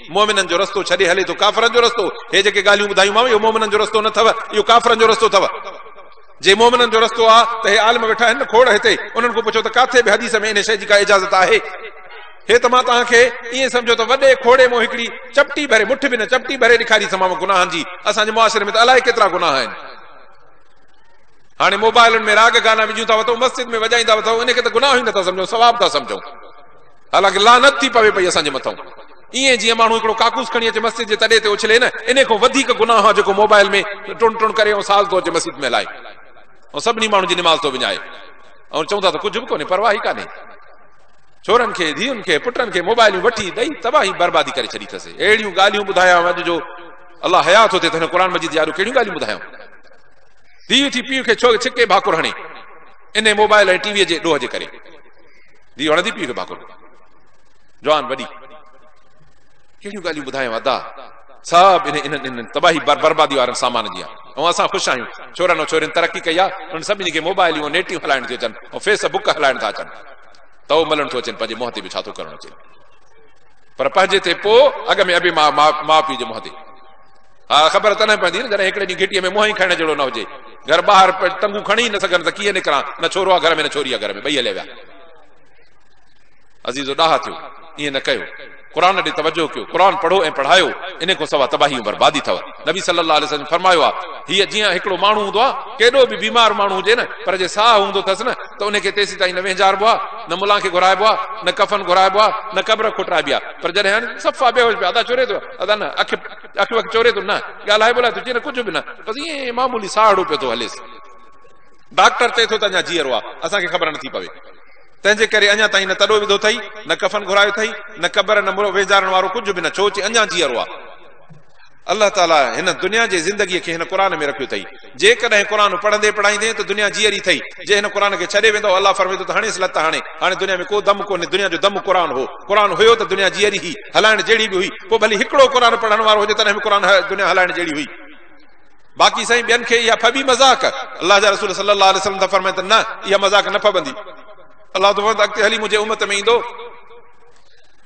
مؤمنن جو رستو ڇڏي هلي ٿو ڪافرن جو رستو، هي جيڪي ڳالهيون ٻڌايومانو اهو مؤمنن جو رستو نه اٿو، اهو ڪافرن جو رستو اٿو. جي مؤمنن جو رستو آ ته هي عالم ويٺا آهن نه کوڙ هتي، انهن کان پڇو ته ڪاٿي به حديث ۾ انهي شيء جي ڪا اجازت آهي؟ هي ته مان توهان کي ائين سمجهو ته وڏي کوڙي مان هڪڙي چپٽي ڀري، مٺ به نه چپٽي ڀري ڏيکاريسمانو گناهن جي، اسان جي معاشري ۾ ته الائي ڪيترا گناهه آهن. هاڻي موبائلن ۾ راڳ گانا وجهيون ٿا وتئون، مسجد ۾ وڄائيندا وتئون، انهي کي ته گناهه ئي نه ٿا سمجهون ثواب ٿا سمجهون. الڳ لعنت ٿي پوي پئي اسان جي مٿئون. ائين جيئن ماڻهو هڪڙو ڪاڪوس کڻي اچي مسجد جي تڏي تي اڇلي نه انهي کان وڌيڪ گناهه آ جيڪو موبائل ۾ ٽڻ ٽڻ ڪري ۽ ساز ٿو اچي مسجد ۾ هلائي ۽ سڀني ماڻهن جي نماز ٿو وڃائي ۽ چون ٿا ته ڪجهه به ڪونهي پرواهه ئي ڪانهي ڇورن کي ڌيئن کي پٽن کي موبائلون وٺي ڏئي تباهي بربادي ڪري ڇڏي اٿس اهڙيون ڳالهيون ٻڌايا اڄ جو الله حيات ٿو ٿئي ته هن قرآن مجيد يارو ڪهڙيون ڳالهيون ٻڌايون ڌيء ٿي پيء کي ڇو ڇڪي ڀاڪر هڻي ان موبائل ۽ ٽي وي جي ڏوهه جي ڪري ڌيء وڻندي پيء کي ڀاڪر ڏي. جوان وڏي ڪهڙيون ڳالهيون ٻڌايانء ادا، سڀ انهي انهن انهن تباهي بربادي وارن سامان جي آ ۽ اسان خوش آهيون، ڇورن ۽ ڇورين ترقي ڪئي آ، انهن سڀني کي موبائليون ۽ نيٽيون هلائڻ ٿيون اچن ۽ فيس بڪ هلائڻ ٿا اچن، تئو ملڻ ٿو اچين پنهنجي منهن تي به ڇا ٿو ڪرڻ اچين پر پنهنجي تي پو اڳ ۾ ابي ماء ماء پيء جي منهن تي. ها خبر تڏهن پوندي نه جڏهن هڪڙي ڏينهن گهٽيء ۾ منهن ئي کڻڻ جهڙو نه هجي. گهر ٻاهر ٽنگون کڻي ئي نه سگهن ته ڪيئن نڪران. نه ڇورو آ گهر ۾ نه ڇوري آ گهر ۾ ٻئي هليا ويا. عزيزو ڏاها ٿيو ائين نه ڪيو. قرآن ڏي توجه ڪيو. قرآن پڙهو ۽ پڙهايو. انهي کان سوا تباهي ۽ بربادي ٿئو. نبي صلّي اللّٰه عليه وسلّم فرمايو آ هيء جيئن هڪڙو ماڻهو هوندو آ ڪيڏو به بيمار ماڻهو هجي نه پر جي ساهه هوندو ٿس نه ته انهي کي تيسيتائين نه وهنجاربو آ نه ملان کي گهرائبو آ نه ڪفن گهرائبو آ نه قبر کوٽرائبي آ پر جڏهن صفا بيهوش به ادا چوري ٿو ادا نه اک اک وک چوري ٿو نه، ڳالهائي ٻولهائي ٿو جيئن نه ڪجهه به نه، بس ائين ئي معمولي ساهڙو پيو ٿو هليس. ڊاڪٽر چئي ٿو ته اڃا جيئرو آهي، اسان کي خبر نٿي پوي. تنهنجي ڪري اڃا تائين نه تڏو وڌو اٿئي، نه ڪفن گهرايو اٿئي، نه قبر، نه مڙهو ويجهارڻ وارو ڪجهه به نه، ڇو چي اڃا جيئرو آهي. الله تعاليٰ هن دنيا جي زندگيء کي هن قرآن ۾ رکيو اٿئي. جيڪڏهن قرآن پڙهندي پڙهائيندين ته دنيا جيئري ٿئي، جي هن قرآن کي ڇڏي ويندؤ، الله فرمائي ٿو ته هڻيس لت هڻي، هاڻي دنيا ۾ ڪو دم ڪونهي، دنيا جو دم قرآن هو، قرآن هيو ته دنيا جيئري هئي، هلائڻ جهڙي به هئي، پوء ڀلي هڪڙو قرآن پڙهڻ وارو هجي تڏهن به قرآن دنيا هلائڻ جهڙي هئي، باقي سائين ٻين کي اها ڦٻي مذاق، الله جا رسول صلّي اللّٰه عليه وسلّم ٿا فرمائين ته نه اها مذاق نه ڦٻندي، الله ٿو فرمائي ته اڳتي هلي منهنجي امّت ۾ ايندو،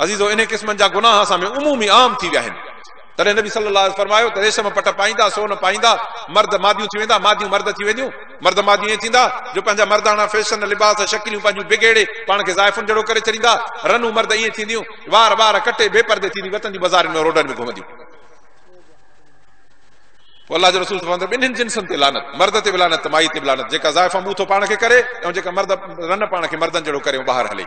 عزيزو! انهي قسمن جا گناهه اسان ۾ عمومي عام ٿي ويا آهن. تڏهن نبي صلي الله عليه وسلم فرمايو ته ريشم پٽ پائيندا، سون پائيندا، مرد ماديون ٿي ويندا، ماديون مرد ٿي وينديون، مرد ماديون ائين ٿيندا جو پنهنجا مرداڻا فيشن، لباس ۽ شڪليون پنهنجون بگيڙي پاڻ کي زائفن جهڙو ڪري ڇڏيندا، رنون مرد ائين ٿينديون، وار ٻار ڪٽي بي پردي ٿينديون وطن جي بزارين ۾ روڊن ۾ گهمنديون. پوء الله جي رسول فرمائن ٿا ٻنهين جنسن تي لعنت، مرد تي به لعنت ته مائي تي به لعنت، جيڪا زائفان منهن ٿو پاڻ کي ڪري ۽ جيڪا مرد رن پاڻ کي مردن جهڙو ڪري ۽ ٻاهر هلي.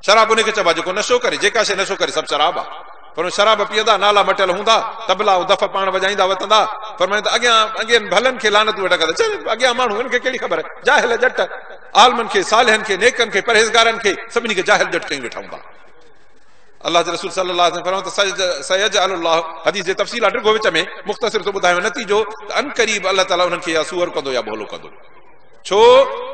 شراب انهي کي چئبا جيڪو نشو ڪري، جيڪا شيء نشو ڪري سڀ شراب آ. فرمايو شراب پيئندا، نالا مٽيل هوندا، طبلا ۽ دف پاڻ وڄائيندا وتندا. فرمايو ته اڳيان اڳين ڀلن کي لعنتون ويٺا ڪندا. چئجي اڳيان ماڻهو هن کي ڪهڙي خبر، جاهل ڄٽ. عالمن کي، صالحن کي، نيڪن کي، پرهيزگارن کي، سڀني کي جاهل ڄٽ چئي ويٺا هوندا. الله جي رسول صلّي الله عليه وسلّم فرمايو ته سيجعل الله حديث جي تفصيل آ ڊگهو وچ ۾ مختصر ٿو ٻڌايان نتيجو ته عنقريب الله تعالي انهن کي يا سوئر ڪندو يا ڀولو ڪندو. ڇو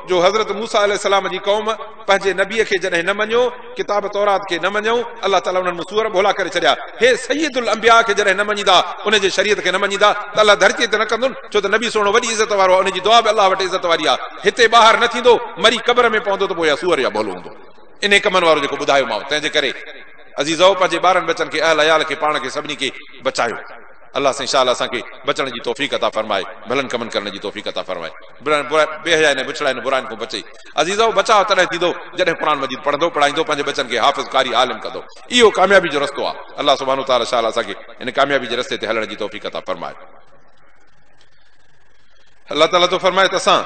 جو حضرت موسيٰ عليه السلام جي قوم پنهنجي نبي کي جڏهن نه مڃيو، ڪتاب تورات کي نه مڃيو، الله تعاليٰ انهن ۾ سوئر ڀولا ڪري ڇڏيا. هي سيد الانبياء کي جڏهن نه مڃيندا، ان جي شريعت کي نه مڃيندا ته الله ڌرتيء تي نه ڪندن، ڇو ته نبي سهڻو وڏي عزت وارو آهي، ان جي دعا به الله وٽ عزت واري آهي. هتي ٻاهر نه ٿيندو، مري قبر ۾ پوندو ته پوء يا سوئر يا ڀولو هوندو. انهي ڪمن وارو جيڪو ٻڌايومانء. تنهن جي ڪري عزيزؤ! پنهنجي ٻارن ٻچن کي، اهل عيال کي، پاڻ کي سڀني کي بچايو. الله سائين شال اسان کي بچڻ جي توفيق عطا فرمائي ڀلن ڪمن ڪرڻ جي توفيق عطا فرمائي برائن برائن بي حيائين ۽ بڇڙائين ۽ براين کون بچئي عزيزؤ بچاء تڏهن ٿيندو جڏهن قرآن مجيد پڙهندو پڙهائيندو پنهنجي ٻچن کي حافظ قاري عالم ڪندو اهو ڪاميابي جو رستو آ الله سبحانه وتعالي شال اسان کي ان ڪاميابي جي رستي تي هلڻ جي توفيق عطا فرمائي. الله تعاليٰ ٿو فرمائي ته اسان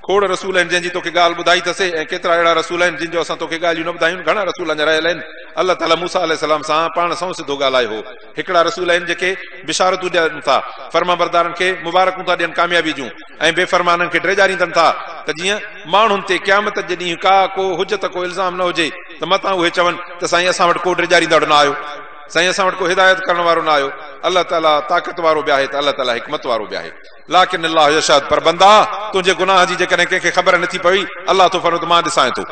کوڙ رسول آهن جنهن جي توکي ڳالهه ٻڌائي ته سي ۽ ڪيترا اهڙا رسول آهن جن جو اسان توکي ڳالهيون نه ٻڌايون گهڻا رسول اڃا رهيل آهن الله تعاليٰ موسيٰ عليه السلام سان پاڻ سون سڌو ڳالهايو هو هڪڙا رسول آهن جيڪي بشارتون ڏين ٿا فرمانبردارن کي مبارڪون ٿا ڏين ڪاميابي جون ۽ بي فرمانن کي ڊيڄاريندن ٿا ته جيئن ماڻهن تي قيامت جي ڏينهن ڪا ڪو حجت ڪو الزام نه هجي ته متان اهي چون ته سائين اسان وٽ ڪو ڊيڄاريندڙ نه آيو سائين اسان وٽ ڪو هدايت ڪرڻ وارو نه آيو الله تعالي طاقت وارو به آهي ته الله تعالي حڪمت وارو به آهي لاڪن الله يشهد پر بندا تنهنجي گناهه جي جيڪڏهن ڪنهن کي خبر نٿي پوي الله ٿو فرمائي ته مان ڏسانء ٿو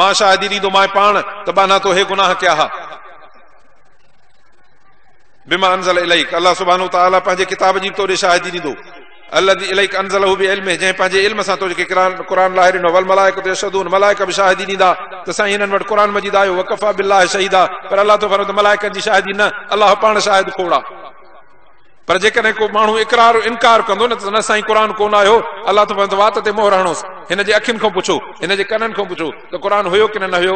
مان شاهدي ڏيندو مانء پاڻ ته ٻانها تو هي گناهه ڪيا ها بما انزل اليك الله سبحانه وتعالي پنهنجي ڪتاب جي به توڏي شاهدي ڏيندو الذي اليك انزله بعلمه جنهن پنهنجي علم سان توکي قرآن لاهي ڏنو والملائڪة يشهدون ملائڪه به شاهدي ڏيندا ته سائين هنن وٽ قرآن مجيد آيو وڪفيٰ بالله شهيدا پر الله ٿو فرمائي ته ملائڪن جي شاهدي نه الله پاڻ شاهد کوڙا پر جيڪڏهن ڪو ماڻهو اقرار و انڪار ڪندو نه ته نه سائين قرآن ڪونه آيو الله ٿو فرمائي ته وات تي مهر هڻوس هن جي اکين کان پڇو هن جي ڪنن کان پڇو ته قرآن هيو ڪنه نه هيو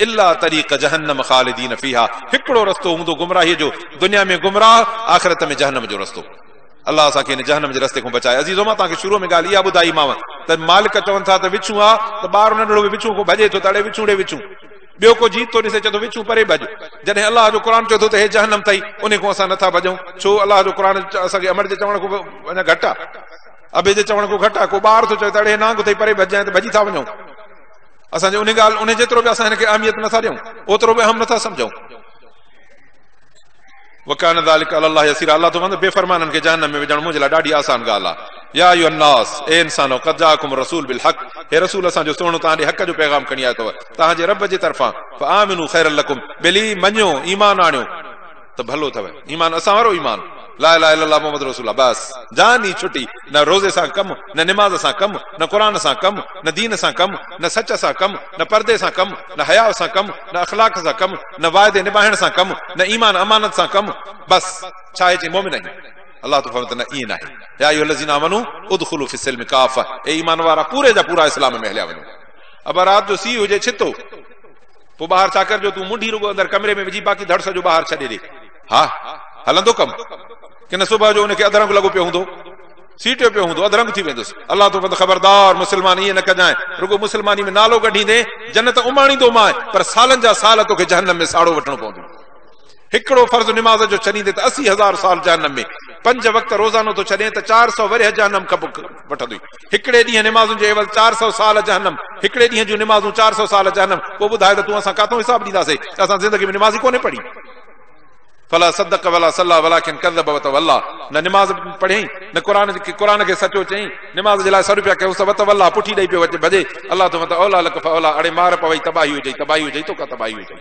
الا طريق جهنم خالدين فيها هڪڙو رستو هوندو گمراهي جو دنيا ۾ گمراهه آخرت ۾ جهنم جو رستو الله اسان کي ان جهنم جي رستي کان بچائي عزيزو مان توهان کي شروع ۾ ڳالهه اها ٻڌائي ماء ته مالڪ چون ٿا ته وڇون آ ته ٻار ننڍڙو به وڇون کان ڀڄي ٿو ته اڙي وڇون ڙي وڇون ٻيو ڪو جيت ٿو ڏسي چئي ٿو وڇون پري ڀڄ جڏهن الله جو قرآن چئي ٿو ته هي جهنم ٿئي ان کان اسان نٿا ڀڄون ڇو الله جو قرآن اسان کي امر جي چوڻ کان اڃا گهٽ آ ابي جي چوڻ کان گهٽ آ ڪو ٻار ٿو چئي ته اڙي نانگ ٿئي پري ڀڄ جائين ته ڀڄي ٿا وڃون اسان جي انهي ڳالهه انهي جيترو به اسان هن کي اهميت نه ٿا ڏيون اوترو به اهم نه ٿا سمجهون. وڪان ذلک علی الله يسيرا الله ٿو فرمائي ته بي فرمانن کي جهنم ۾ وجهڻ منهنجي لاء ڏاڍي آسان ڳالهه آهي. يا ايها الناس اي انسانؤ قد جاءکم الرسول بالحق هي رسول اسان جو سهڻو توهان ڏي حق جو پيغام کڻي آيو اٿو توهان جي رب جي طرفان فآمنوا خيرا لڪم ڀلي مڃيو ايمان آڻيو ته ڀلو اٿو. ايمان اسان وارو ايمان لا اله الا الله محمد رسول الله بس جان ئي ڇٽي نه روزي سان ڪم نه نماز سان ڪم نه قرآن سان ڪم نه دين سان ڪم نه سچ سان ڪم نه پردي سان ڪم نه حياء سان ڪم نه اخلاق سان ڪم نه واعدي نباهڻ سان ڪم نه ايمان امانت سان ڪم بس ڇا اهي چئي مومن آهيون الله تو فرمائي ته نه ائين ناهي يا ايها الذين آمنوا ادخلوا في السلم ڪافه اي ايمان وارا پوري جا پورا اسلام ۾ هليا وڃو اڀا رات جو سي هجي ڇتو پوء ٻاهر ڇا ڪرجو تون منڍي رڳو اندر ڪمري ۾ وجهي باقي ڌڙ سڄو ٻاهر ڇڏي ڏي. ها هلندو ڪم. ڪنھن صبح جو ان کي اڌرنگ لڳو پيو هوندو. سيٽيو پيو هوندو اڌرنگ ٿي ويندس. الله توبند خبردار مسلمان ائين نه ڪجانء رڳو مسلماني ۾ نالو ڪڍيندين جنت اماڻيندومانء پر سالن جا سال توکي جهنم ۾ ساڙو وٺڻو پوندو. هڪڙو فرض نماز جو ڇڏيندين ته اسي هزار سال جهنم ۾، پنج وقت روزانو ٿو ڇڏين ته چار سؤ ورهيه جهنم کپي وٺندوئي. هڪڙي ڏينهن نمازن جو عيوض چار سؤ سال جهنم، هڪڙي ڏينهن جون نمازون چار سؤ سال جهنم، پوء ٻڌاء ته تون اسان ڪاٿئون حساب ڏينداسي ته اسان زندگي ۾ نماز ئي ڪونهي پڙهي. فلا صدق ولا صلي ولڪن ڪذب وتوليٰ نه نماز پڙهيائين نه قرآن قرآن کي سچو چيائين، نماز جي لاء سڏ پيا ڪيائونس ته وتوليٰ پٺي ڏئي پيو ڀڄي، الله توکان ته اوليٰ لڪ فاوليٰ اڙي مار پوي تباهي هجئي تباهي هجئي توکان تباهي هجئي.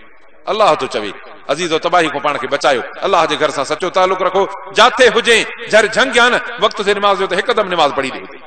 الله ٿو چوي، عزيزو تباهي کون پاڻ کي بچايو، الله جي گهر سان سچو تعلق رکو، جاتي هجين، جهر جهنگ يا نه، وقت سي نماز جو ته هڪدم نماز پڙهي ڏي اتي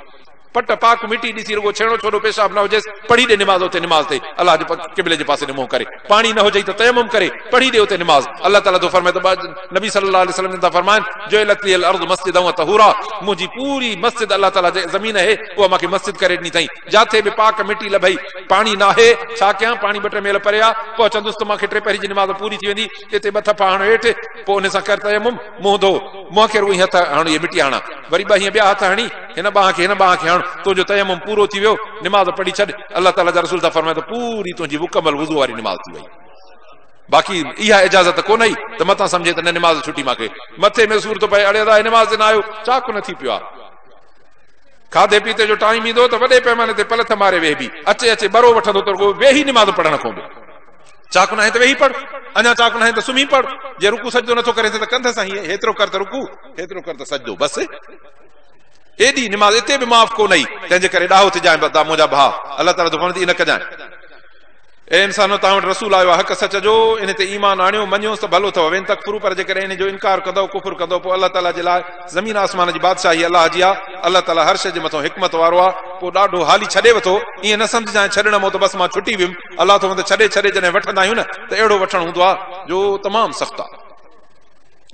پٽ پاڪ مٽي ڏسي رڳو ڇيڻو ڇوڏو پيشاب نه هجيس پڙهي ڏي نماز اتي نماز تي الله جي قبلي جي پاسي ڏي منهن ڪري پاڻي نه هجئي ته تيمم ڪري پڙهي ڏي اتي نماز الله تعالي ٿو فرمائي ته ٻه نبي صلي الله عليه وسلم جن ٿا فرمائن جعلت لي الارض مسجدا وطهورا منهنجي پوري مسجد الله تعالي جي زمين اهي اها مونکي مسجد ڪري ڏني اٿئي جاٿي به پاڪ مٽي لڀئي پاڻي ناهي ڇا ڪيان پاڻي ٻه ٽي ميل پري آ پهچندس ته مان کي ٽي پهري جي نماز پوري ٿي ويندي اتي ٻه ٿڦا هڻ هيٺ پوء ان سان ڪر تيمم منهن ڌو منهن کي رڳو هي هٿ هڻ هي مٽي هڻان وري ٻه هيئن ٻيا هٿ هڻي هن ٻانهن کي هن ٻانهن کي هڻ تنهنجو تيمم پورو ٿي ويو نماز پڙهي ڇڏ الله تعالي جا رسول ٿا فرمائن ته پوري تنهنجي مڪمل وضو واري نماز ٿي وئي باقي اها اجازت ڪونه ئي ته متان سمجهي ته نه نماز ڇٽي ماکي مٿي ۾ سور ٿو پئي اڙي ادا نماز تي نه آيو چاڪ نه ٿي پيو آ کاڌي پيتي جو ٽائيم ايندو ته وڏي پيماني تي پلٿ ماري ويهبي. اچي اچي ٻرو وٺندو ته رڳو ويهي نماز پڙهڻ کون به. چاڪ ناهي ته ويهي پڙهه. اڃا چاڪ ناهي ته سمهي پڙهه. جي رڪوع سجدو نٿو ڪرين ته ڪنڌ سان هيئن هيترو ڪر ته رڪوع، هيترو ڪر ته سجدو. بس. ايڏي نماز اتي به معاف ڪو نه اي. تنهنجي ڪري ڏاهو ٿجانء بدا منهنجا ڀاء. الله تعاليٰ جو فضل اي نه ڪجانء. اي انسانو! توهان وٽ رسول آيو آهي حق سچ جو، انهي تي ايمان آڻيو، مڃيوس ته ڀلو اٿئو، وان تڪفرو پر جيڪڏهن انهي جو انڪار ڪندؤ، ڪفر ڪندؤ، پوء الله تعاليٰ جي لاء زمين آسمان جي بادشاهي الله جي آهي، الله تعاليٰ هر شيء جي مٿئون حڪمت وارو آهي. پوء ڏاڍو هالي ڇڏي وٿو، ائين نه سمجهجانء ڇڏڻ مئو ته بس مان ڇٽي ويم، الله ٿو وند ڇڏي ڇڏي جڏهن وٺندا آهيون نه ته اهڙو وٺڻ هوندو آهي جو تمام سخت آهي.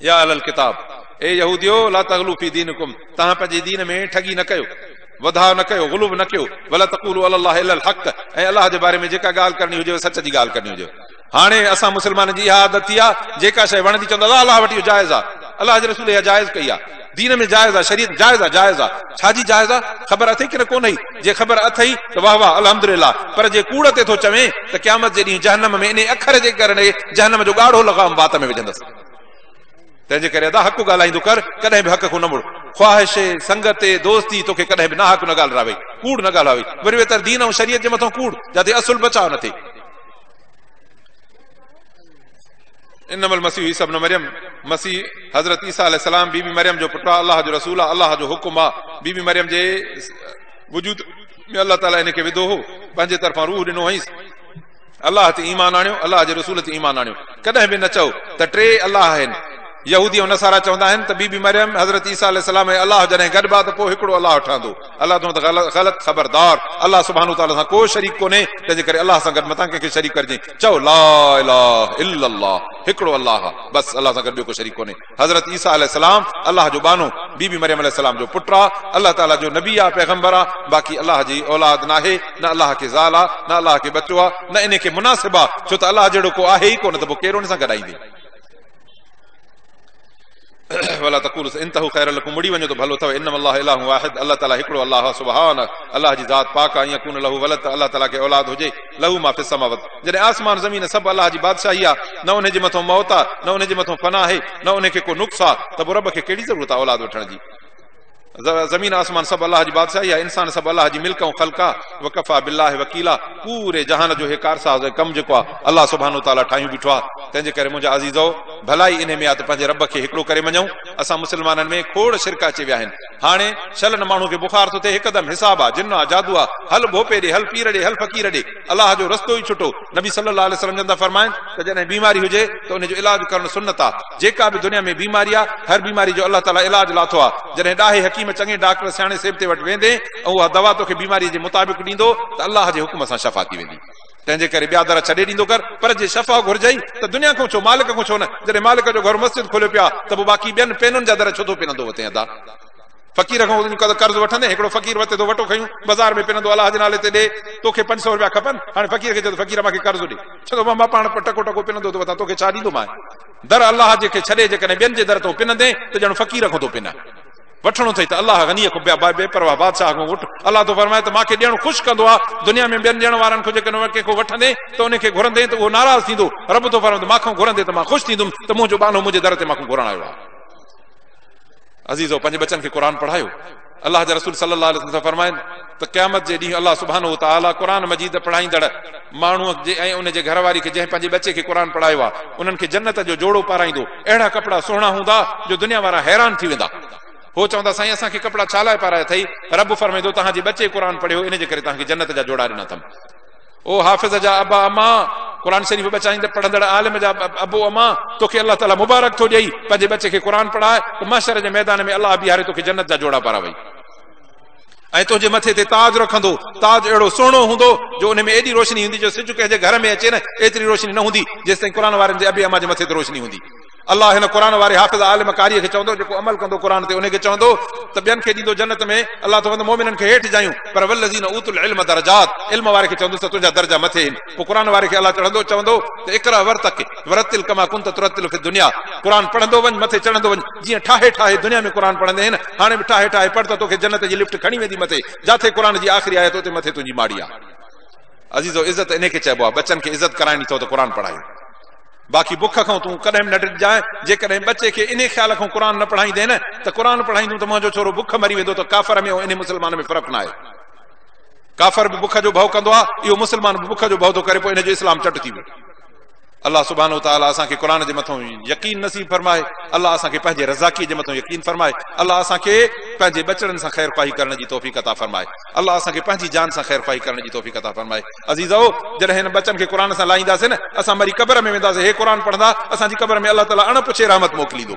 يا اهل الڪتاب! اي يهوديو! لا تغلو في دينڪم توهان پنهنجي دين ۾ ٺڳي نه ڪيو، وڌاء نه ڪيو، غلو نه ڪيو، ولا تقولو علي الله الا الحق ۽ الله جي باري ۾ جيڪا ڳالهه ڪرڻي هجيو سچ جي ڳالهه ڪرڻي هجيو. هاڻي اسان مسلمانن جي اها عادت ٿي آ جيڪا شيء وڻندي چوندا الله الله وٽ اهو جائز آ، الله جي رسول اها جائز ڪئي آ، دين ۾ جائز آ، شريعت جائز آ، جائز آ، ڇا جي جائز آ؟ خبر اٿئي ڪنه ڪونهئي؟ جي خبر اٿئي ته واه واه الحمدلله پر جي ڪوڙ تي ٿو چوين ته قيامت جي ڏينهن جهنم ۾ انهي اکر جي ڪرڻي جهنم جو ڳاڙهو لغام وات ۾ وجهندس. تنهنجي ڪري ادا حق ڳالهائيندو ڪر، ڪڏهن به حق کان نه مڙ. خواهش، سنگت، دوستي توکي ڪڏهن به ناحق نه ڳالهراوي، ڪوڙ نه ڳالهاوي، وري ويتر دين ۽ شريعت جي مٿان ڪوڙ، جاتي اصل بچاء نه ٿئي. انما المسيح عيسيٰ ابن مريم، مسيح حضرت عيسيٰ عليه السلام بي بي مريم جو پٽ آ، الله جو رسول آ، الله جو حڪم آ، بي بي مريم جي وجود ۾ الله تعاليٰ هن کي وڌو هو، پنهنجي طرفان روح ڏنو هئينس، الله تي ايمان آڻيو، الله جي رسول تي ايمان آڻيو. ڪڏهن به نه چئو ته ٽي الله آهن. يهودي ۽ نصارا چوندا آهن ته بي بي مريم، حضرت عيسيٰ عليه السلام ۽ الله جڏهن گڏبا ته پوء هڪڙو الله ٺهندو. الله تون ته غلط، خبردار! الله سبحانه وتعاليٰ سان ڪو شريڪ ڪونهي، تنهنجي ڪري الله سان گڏ متان ڪنهن کي شريڪ ڪرجين. چئو، لا اله الا الله، هڪڙو الله آ، بس، الله سان گڏ ٻيو ڪو شريڪ ڪونهي. حضرت عيسيٰ عليه السلام الله جو ٻانهو، بي بي مريم عليه السلام جو پٽ آ، الله تعاليٰ جو نبي آ، پيغمبر آ، باقي الله جي اولاد ناهي، نه الله کي زال آ، نه الله کي ٻچو آ، نه انهي کي مناسب آ، ڇو ته الله جهڙو ڪو آهي ئي ڪو نه ته پوء ڪير ان سان گڏائيندي. ولا تقولوا س انتهوا خير لكم مڙي وڃو ته ڀلو اٿو، انما الله اله واحد الله تعاليٰ هڪڙو الله آ سبحانه الله جي ذات پاڪ آ ان يڪون له ولد ته الله تعاليٰ کي اولاد هجي، لهو ما في السماوات جڏهن آسمان زمين سڀ الله جي بادشاهي آ نه انهي جي مٿو موت آ نه انهي جي مٿو فنا آهي نه انهي کي ڪو نقص آ ته پو رب کي ڪهڙي ضرورت آ اولاد وٺڻ جي زمين آسمان سڀ الله جي بادشاهي آ انسان سڀ الله جي ملڪ ۽ خلق آ وڪفا بالله وڪيلا پوري جهان جو هي ڪارساز ۽ ڪم جيڪو آ الله سبحانه وتعاليٰ ٺاهيون بيٺو آ تنهن جي ڪري منهنجا عزيزؤ ڀلائي انهي ۾ آ ته پنهنجي رب کي هڪڙو ڪري مڃون اسان مسلمانن ۾ کوڙ شرڪ اچي ويا آهن هاڻي شلن ماڻهو کي بخار ٿو ٿئي هڪدم حساب آ جن آ جادو آ هل ڀوپي ڏي هل پير ڏي هل فقير ڏي الله جو رستو ئي ڇٽو نبي صلي الله عليه وسلم جن ٿا فرمائن ته جڏهن بيماري هجي ته ان جو علاج ڪرڻ سنت آ جيڪا به دنيا ۾ بيماري آ هر بيماري جو الله تعالي علاج لاٿو آ جڏهن ڏاهي حڪيم چڱي ڊاڪٽر سياڻي سيبتي وٽ ويندين ۽ اها دوا توکي بيماري جي مطابق ڏيندو ته الله جي حڪم سان شفا ٿي ويندي. تنهنجي ڪري ٻيا در ڇڏي ڏيندو ڪر، پر جي شفا گهرجئي ته دنيا کان ڇو مالڪ کان ڇو نه، جڏهن مالڪ جو گهر مسجد کوليو پيو آهي ته پوء باقي ٻين پينن جا در ڇو ٿو پنندو وتين ادا فقير کان وڃي قرض وٺندين هڪڙو فقير وتي ٿو وٽو کنيون بزار ۾ پنندو الله جي نالي تي ڏي توکي پنج سئو روپيا کپن هاڻي فقير کي چئه ته فقير مان کي قرض ڏي چوندو مان مان پاڻ ٽڪو ٽڪو پنندو ٿو وتان توکي ڇا ڏيندومانء در الله جي کي ڇڏي جيڪڏهن ٻين جي در تون پنندين ته ڄڻ فقير کان ٿو پنين. وٺڻو اٿئي ته الله غنيء کان بي بي پرواهه بادشاهه کان وٺ. الله ٿو فرمائي ته مان کي ڏيڻ خوش ڪندو آهي. دنيا ۾ ٻين ڏيڻ وارن کان جيڪڏهن ڪنهن کان وٺندين ته ان کي گهرندين ته اهو ناراض ٿيندو. رب ٿو فرمائي ته مان کان گهرندين ته مان خوش ٿيندم ته منهنجو ٻانهو منهنجي در تي مان کان گهرڻ آيو آهي. عزيزو! پنهنجي ٻچن کي قرآن پڙهايو. الله جا رسول صلّي الله عليه وسلّم فرمائن. ته قيامت جي ڏينهن الله سبحانه وتعالي قرآن مجيد پڙهائيندڙ ماڻهو جي ۽ ان جي گهر واري کي جنهن پنهنجي ٻچي کي قرآن پڙهايو آهي انهن کي جنت جو جوڙو پارائيندو اهڙا ڪپڙا سهڻا هوندا جو دنيا وارا حيران ٿي ويندا هو چوندا سائين اسان کي ڪپڙا ڇا لاء پارايا اٿئي رب فرمائيندو توهان جي ٻچي قرآن پڙهيو ان جي ڪري توهان کي جنت جا جوڙا ڏنا اٿم او حافظ جا ابا اما قرآن شريف بچائيندڙ پڙهندڙ عالم جا ابو اما توکي الله تعاليٰ مبارڪ ٿو ڏئي پنهنجي ٻچي کي قرآن پڙهائي ته محشر جي ميدان ۾ الله بيهاري توکي جنت جا جوڙا پاراوئي ۽ تنهنجي مٿي تي تاج رکندو، تاج اهڙو سهڻو هوندو جو ان ۾ ايڏي روشني هوندي جو سج ڪنهن جي گهر ۾ اچي نه ايتري روشني نه هوندي جيستائين قرآن وارن جي ابي اما جي مٿي تي روشني هوندي. الله هن قرآن واري حافظ عالم قاريء کي چوندو جيڪو عمل ڪندو قرآن تي انهي کي چوندو ته ٻين کي ڏيندو جنت ۾ الله چوندو مؤمنن کي هيٺ جايون پر والذين اوتوا العلم درجات علم واري کي چوندوس ته تنهنجا درجا مٿي هين پوء قرآن واري کي الله چڙهندو چوندو ته اقرأ ورتقي ورتل ڪما ڪنت ترتل في الدنيا قرآن پڙهندو وڃ مٿي چڙهندو وڃ جيئن ٺاهي ٺاهي دنيا ۾ قرآن پڙهندي هين هاڻي به ٺاهي ٺاهي پڙهه ته توکي جنت جي لفٽ کڻي ويندي مٿي جاٿي قرآن جي آخري آيت اتي مٿي تنهنجي ماڙي آهي عزيزو عزت انهي کي چئبو آهي ٻچن کي عزت ڪرائڻي اٿو ته قرآن پڙهايو باقي بک کان تون ڪڏهن به نه ڊڄجانء جيڪڏهن ٻچي کي انهي خيال کان قرآن نه پڙهائيندين ته قرآن پڙهائيندون ته منهنجو ڇورو بک مري ويندو ته ڪافر ۾ ۽ انهي مسلمان ۾ فرق ناهي ڪافر به بک جو ڀؤ ڪندو آهي اهو مسلمان به بک جو ڀؤ ٿو ڪري پوء هن جو اسلام چٽ ٿي ويو الله سبحانه وتعالي اسان کي قرآن جي مٿان يقين نصيب فرمائي، الله اسان کي پنهنجي رضاڪي جي مٿان يقين فرمائي، الله اسان کي پنهنجي ٻچڙن سان خير خواهي ڪرڻ جي توفيق عطا فرمائي، الله اسان کي پنهنجي جان سان خير خواهي ڪرڻ جي توفيق عطا فرمائي. عزيزؤ! جڏهن هن ٻچن کي قرآن سان لائينداسين نه، اسان مري قبر ۾ وينداسين، هي قرآن پڙهندا، اسان جي قبر ۾ الله تعالي اڻ پڇي رحمت موڪليندو.